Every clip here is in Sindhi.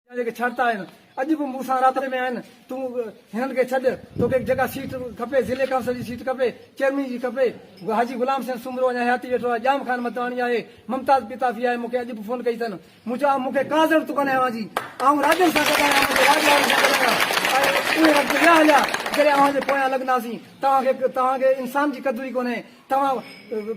جا جيڪي شرط آهن، اڄ به مون سان رابطي ۾ آهن، تون هنن کي ڇڏ، توکي جيڪا سيٽ کپي، ضلعي ڪائونسل جي سيٽ کپي، چيئرمين جي کپي، حاجي غلام حسين سومرو اڃا حياتي ويٺو آهي، ڄام خان متواڻي آهي، ممتاز پيتافي آهي، مون کي اڄ به فون ڪئي اٿن، مون چيو آء مون کي ڪا ضرورت ڪونهي اوهان جي، آئون راڄن سان گڏ آهيان، منهنجي راڄ وارن سان گڏ آهيان، ۽ اهي وقت ويا هليا جڏهن اوهان جي پويان لڳنداسين، توهان کي توهان کي انسان جي قدر ئي ڪونهي، توهان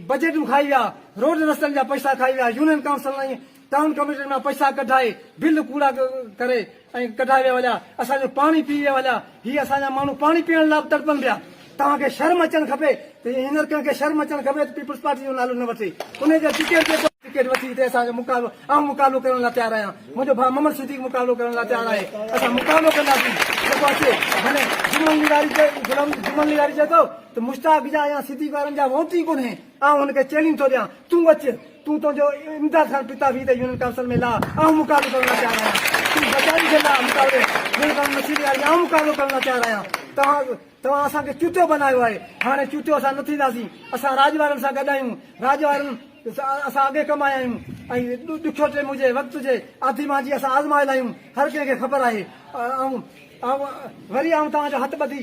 بجيٽون کائي ويا، روڊ رستن جا پئسا کائي ويا، يونين ڪائونسلن ۽ ٽائون ڪميٽين مان پئسا ڪڍائي بل ڪوڙا ڪري ۽ ڪڍائي ويا ويا اسان جو پاڻي پي ويا ويا هي اسان جا ماڻهو پاڻي پيئڻ لاء به تڙپن پيا توهان کي شرم اچڻ کپي ته هينئر ڪنهن کي شرم اچڻ کپي ته پيپلز پارٽي جو نالو نه وٺي انهي جا ٽڪيٽ جيڪو ٽڪيٽ وٺي هتي اسان جو مقابلو آئون مقابلو ڪرڻ لاء تيار آهيان منهنجو ڀاء محمد صديق مقابلو ڪرڻ لاء تيار آهي اسان مقابلو ڪنداسين جيڪو اچي ڀلي جمن لغاري جمن لغاري چئي ٿو ته مشتاق جا يا صديق وارن جا ووٽ ئي ڪونهي آئون هن کي چئلينج ٿو ڏيان تون اچ تون تنهنجو امداد خان پتا ويهه ته يونين ڪائونسل ۾ لاء آئون مقابلو ڪرڻ لاء تيار آهيان تون بچائي کي لاء مقابلي يونين ڪائونسل مشير لياري ۾ آئون مقابلو ڪرڻ لاء تيار آهيان توهان توهان اسان کي چوٽيو بنايو آهي هاڻي چوٽيو اسان نه ٿينداسين اسان راڄ وارن سان گڏ آهيون راڄ وارن اسان اڳي ڪمايا آهيون ۽ ڏکيو ٽيم هجي وقت هجي آڌي مانجي اسان آزمايل آهيون هر ڪنهن کي خبر آهي آئون آئون وري آئون توهان جو هٿ ٻڌي